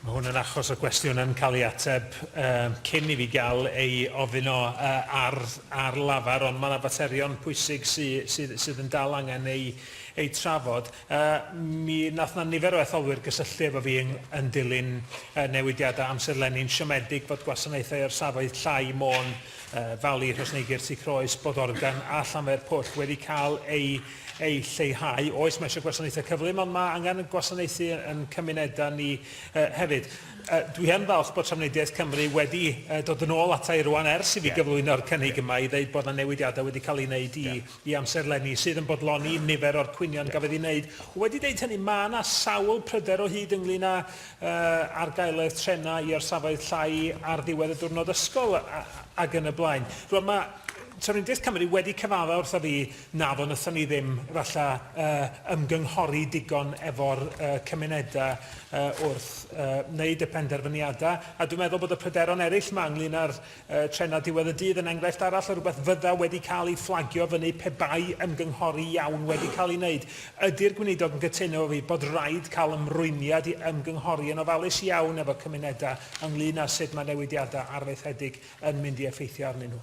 Mae hwn yn achos o gwestiwn yn cael ei ateb um, cyn i fi gael ei ofyn o uh, ar, ar lafar, ond mae yna faterion pwysig sydd, sydd, sydd yn dal angen ei, ei trafod. Uh, mi nath na nifer o etholwyr gysylltu efo fi yn, yn dilyn uh, newidiadau amserlenni'n siomedig bod gwasanaethau o'r safoedd llai Môn, uh, Fali, Rhosneigr, Sicroes, Bodorgan a Llanfair Pwll wedi cael eu ei lleihau. Oes, mae eisiau gwasanaethau cyflym, ond mae angen gwasanaethu yn cymunedau ni uh, hefyd. Uh, dwi yn falch bod Trafnidiaeth Cymru wedi uh, dod yn ôl ata i rwan ers i fi yeah. gyflwyno'r cynnig yeah. yma i ddeud bod yna newidiadau wedi cael ei wneud i, yeah. i amserlenni sydd yn bodloni yeah. nifer o'r cwynion yeah. gafodd ei wneud. Wedi deud hynny, mae yna sawl pryder o hyd ynglyn â uh, argaeledd trenau i orsafoedd llai ar ddiwedd y diwrnod ysgol ac yn y blaen. Rwan mae Trafnidiaeth Cymru wedi cyfadda wrtho fi Naddo, wnaethon ni ddim, falle, ymgynghori digon efo'r cymunedau wrth wneud y penderfyniadau. A dwi'n meddwl bod y pryderon eraill yma ynglŷn â'r trenau diwedd y dydd yn enghraifft arall o rywbeth fydda wedi cael ei fflagio fyny pe bai ymgynghori iawn wedi cael ei wneud. Ydy'r Gweinidog yn cytuno efo fi bod raid cael ymrwymiad i ymgynghori yn ofalus iawn efo cymunedau ynglŷn â sut mae newidiadau arfaethedig yn mynd i effeithio arnyn nhw?